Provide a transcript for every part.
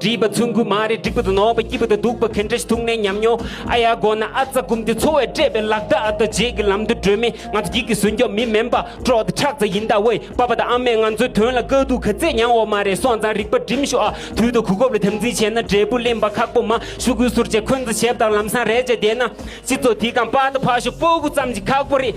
བྲིས་པ་ཚོན་སྐུད་མ་རེད་འགྲིག་པ་དང་ནོར་བ་སྐྱིད་པ་དང་སྡུག་པ་གན་འདྲེ་ཐུག་ནས་ཉམས་མྱོང་ཨ་ཡ་དགོ་ན་ཨ་ཙ་སྒུམ་དེ་འཚོ་བས་སྤྲད་པའི་ལག་རྟགས་ཨ་ད་རྗེས་ཀྱི་ལམ་དུ་བགྲོད་མི་ང་ཚོ་སྒྱིད་ཀྱི་ཟུན་སྐྱོབ་མི་མིན་པ་ཀྲོའུ་དེ་ཁྲག་རྩ་ཡིན་ད་འོས་པ་པ་དང་ཨ་མས་ང་ཚོའི་དོན་ལ་དཀའ་སྡུག་ག་ཚད་མྱངས་འོ་མ་རེད་སོང་ཙང་རིག་པ་སྒྲིམ་ཤོག་ཨ་དུས་ད་གུ་གོབ་ལ་དམ་འཛིན་བྱས་ན་འབྲས་བུ་གླེན་པ་ཁག་པོ་མ་ཤུ་གུས་ཟུར་བཅད་འཁོན་འཛ་བྱས་པ་དང་ལམ་སང་རེད་བྱས་བསྡད་ན་སྤྱི་ཚོགས་དེ་གང་ཕག་ད་ཕག་ཤོག་སྤོ་བོ་ཙམ་གྱི་ཁག་པོ་རེད།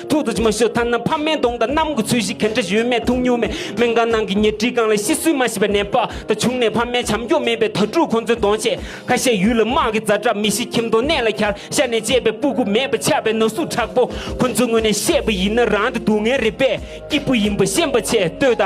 ཐུགས་རྡོ་རྗེ་མ་ཞུ་ཐ་ན་ཕ་མའི་གདོང་དང་གནམ་གྱི་ཚུལ་བཞིན་གན་འདྲ་ཡོད་མེད་ཐུགས་ཉུང་མེད་མེད་དགའ་སྣང་གི་ཉེར་འཁྲིས་སྒང་ལ་ཤི་གསོན་མ་ཤི་བའི་ནད་དཔག་ད་བྱུང་ནས་ཕ་མའི་བྱམས་སྐྱོང་མེད་པའི་དྭ་ཕྲུག་ཁོ་ཚོའི་གདོང་ཆས་ཁ་ཤས་ཡུལ་ལ་དམག་གིས་རྫ་བྲག་མི་ཤི་ཁྱིམ་སྡོང་གནས་ལ་གར་ཤ་ནས་བཅད་པའི་སྤུ་གུ་མེད་པ་ཆགས་པའི་ན་ཟུག་དྲག་པོ་ཁོ་ཚོའི་ངོས་ནས་བཤད་པ་ཡིན་ན་རང་གི་སྡུག་བསྔལ་རེད་པས་སྐྱིད་པོ་ཡིན་པ་ཤེས་པ་ཆེས་བསྟོད་ད།